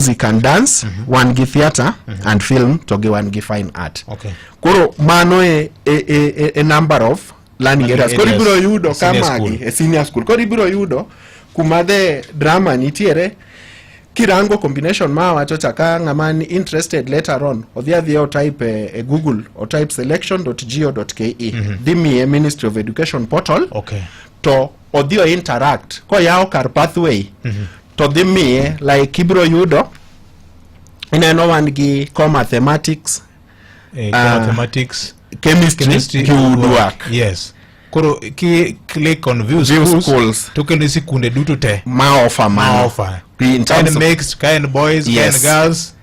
music and dance mm -hmm. wan gi theatre mm -hmm. and film to gi wan gi fine art okay. koro mano e, e, e, e, e number of learning areas koro ibiro yudo ka magi e senior school koro ibiro yudo kuma the drama nitiere kirango combination ma wacho chaka ng'ama ni interested later on odhi adhi o type e, e google o type selection.go.ke mm -hmm. dhi miye ministry of education portal okay. to odhi o interact koyawo kar pathway mm -hmm. to dhi miye like ibiro yudo ineno wan gi co mathematics eh, co ah, mathematics uh, chemistry, chemistry gi woodwork yes koro ki click on view, view schools, schools. to kendo sikunde duto te ma offer ma offer in terms of, boys yes. girls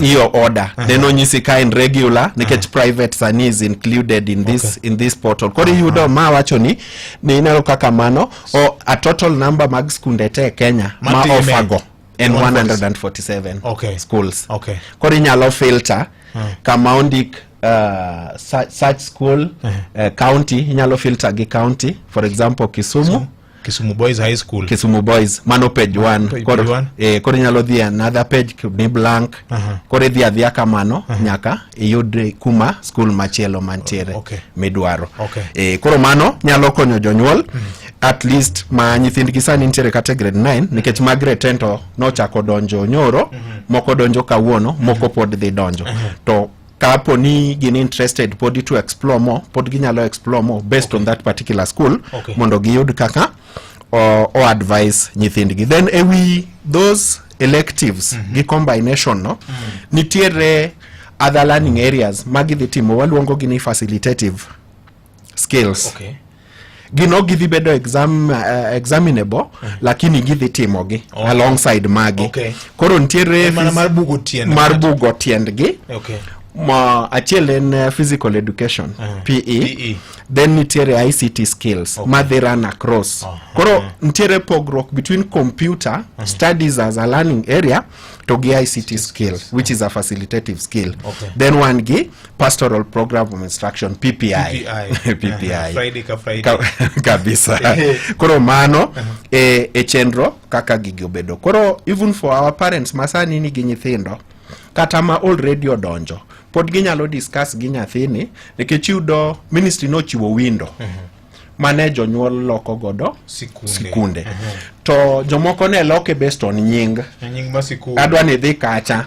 hiyo uh-huh. order uh-huh. then onyisi ka in regular nikech uh-huh. private sani is included in this, okay. in this portal koro uh-huh. yudo ma wacho ni ni inalo kaka mano o a total number mag skunde te Kenya ma, ma ofago en 147 okay. schools okay. koro inyalo filter uh -huh. kama ondik uh, such, such school uh -huh. uh, county inyalo filter gi county for example Kisumu so, Kisumu Boys High School. Kisumu Boys mano page 1 page koro one. eh, koro inyalo dhi another page ni blank Aha. koro idhi adhiya kamano nyaka iyud kuma school machielo mantiere Oh, okay. midwaro Okay. eh, koro mano nyalo konyo jonyuol at least ma nyithindgi sani nitiere kata e grade 9 nikech ma grade 10 to nochako donjo nyoro moko donjo kawuono moko pod dhi donjo to kapo ni gin interested podi to explore more pod ginyalo explore more based okay. on that particular school okay. mondo giyud kaka o, o advise nyithindgi then ewi those electives mm -hmm. gi combination no mm -hmm. nitiere other learning areas ma gidhi timo waluongo gi ni facilitative skills okay gino gidhi bedo exam, uh, examinable mm. lakini gidhi timogi okay. alongside magi okay. koro nitiere mar bugo tiend mar bugo tiendgi okay. Ma, achiel en uh, physical education uh, eh. PE, PE then nitiere ICT skills okay. madhi run across uh, koro uh, nitiere pogruok between computer uh, mm-hmm. studies as a learning area to gi ICT skill which is a facilitative skill okay. then one gi pastoral program of instruction ppi ppi, PPI. Uh, Friday ka Friday. Ka, kabisa koro mano uh -huh. e, e chenro kaka gigi obedo koro even for our parents masani nigi nyithindo kata ma already odonjo pod ginyalo discuss gi nyathini nikech yudo ministry nochiwo window uh -huh mane jonyuol loko godo sikunde, sikunde. Uh -huh. to jomoko ne loke based on nying, nying adwa ni dhi kacha